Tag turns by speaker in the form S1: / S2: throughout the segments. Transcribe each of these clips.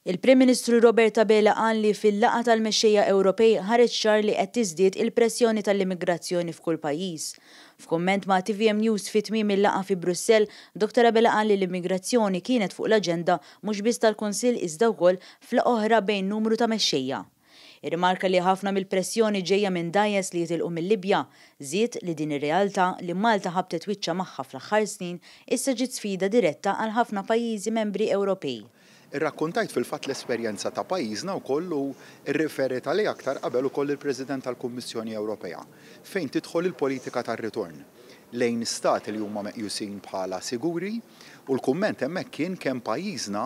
S1: Il-Prim Ministru Robert Abela qal li fil-laqgħa tal-mexxejja Ewropej ħareġ ċar li qed tiżdied il-pressjoni tal-immigrazzjoni f'kull pajjiż. F'kumment ma' tvm News fi tmiem il-laqgħa fi Brussell, Dottor Abela qal li l-immigrazzjoni kienet fuq l-aġenda mhux biss tal-Kunsill iżda wkoll f'laqgħa oħra bejn numru ta' mexxejja. Irrimarka li ħafna mill-pressjoni ġejja minn dgħajjes li jitilqu mil-Libja, żied li din ir-realtà, li Malta ħabtet wiċċha magħha fl-aħħar snin, issa ġiet sfida diretta għal ħafna pajjiżi membri Ewropej. Irrakkuntajt
S2: fil-fatt l-esperjenza ta' pajjiżna wkoll u rriferiet għalija aktar qabel ukoll il-President tal-Kummissjoni Ewropea fejn tidħol il-politika tar-ritorn lejn Stati li huma meqjusin bħala siguri u l-kumment hemmhekk kien kemm pajjiżna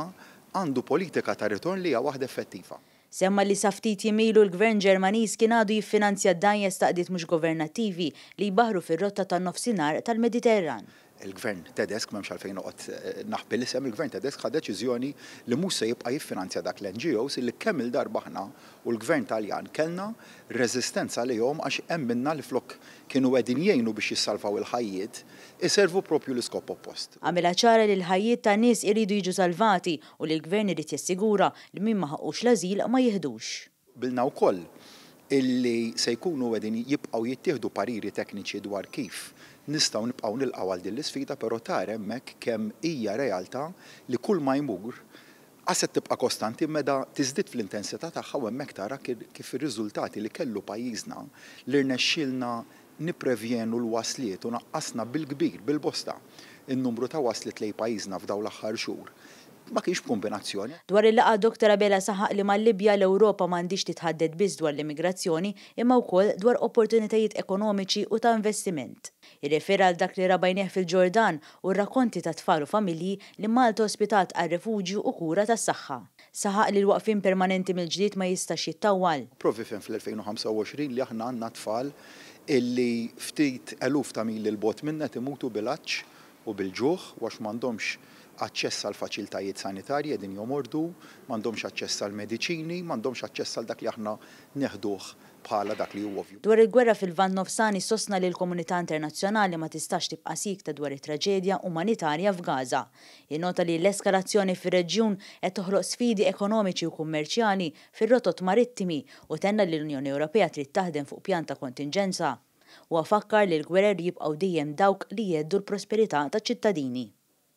S2: għandu politika ta' ritorn li hija waħda effettiva. Semma li sa ftit
S1: jiem ilu l-Gvern Ġermaniż kien għadu jiffinanzja dgħajjes ta' qdiet mhux governattivi li jbaħħru fir-rotta tan-Nofsinhar tal-Mediterran. Il-Gvern
S2: Tedesk, m'hemmx għalfejn noqgħod naħbi l-isem, il-Gvern Tedesk ħa deċiżjoni li mhux se jibqa' jiffinanzja dak l-NGOs li kemm-il darba aħna u l-Gvern Taljan kellna reżistenza għalihom għax hemm minnha li flok kienu qegħdin jgħinu biex jissalvaw il-ħajjiet iservu proprju l-iskop oppost. Għamilha ċara li
S1: l-ħajjiet ta' nies iridu jiġu salvati u li l-Gvern irid jassigura li min ma ħaqqux l-ażil ma jiħdux. Qbilna wkoll
S2: illi se jkunu qegħdin jibqgħu jittieħdu pariri tekniċi dwar kif nistgħu nibqgħu nilqgħu għal din l-isfida però tara hemmhekk kemm hija realtà li kulma jmur qased tibqa' kostanti meda tiżdied fl-intensità tagħha u hemmhekk tara kif ir-riżultati li kellu pajjiżna li rnexxielna nipprevjenu l-wasliet u naqqasna bil-kbir, bil-bosta, in-numru ta' wasliet lejn pajjiżna f'dawn l-aħħar xhur. Ma kienx b'kumbinazzjoni. Dwar il-laqgħa Doctor
S1: Abela saħaq li mal-Libja l-Ewropa m'għandhiex titħadded biss dwar l-immigrazzjoni imma wkoll dwar opportunitajiet ekonomiċi u ta' investiment. Irrefera għal dak li ra b'għajnejh fil-Ġordan u r-rakkonti ta' tfal u familji li Malta ospitat għal refuġju u kura tas-saħħa. Saħaq li l-waqfien permanenti mill-ġlied ma jistax jittawwal. Provi fhem fl-2025
S2: li aħna għandna tfal illi ftit eluf ta' mili 'l bogħod minna qed imutu bil-għatx u bil-ġuħ u għax m'għandhomx aċċess għall-faċiltajiet sanitarji qegħdin jomordu, m'għandhomx aċċess għall-mediċini, m'għandhomx aċċess għal dak li aħna neħduh bħala dak li hu ovvju. Dwar il-gwerra fil-Lvant
S1: Nofsani sostna li l-komunità internazzjonali ma tistax tibqa' siekta dwar it-traġedja umanitarja f'Gaza. jinnota li l-eskalazzjoni fir-reġjun qed toħloq sfidi ekonomiċi u kummerċjali fir-rotot marittimi u tenna li l-Unjoni Ewropea trid taħdem fuq pjan ta' kontinġenza. Huwa fakkar li l-gwerer jibqgħu dejjem dawk li jheddu l-prosperità taċ-ċittadini.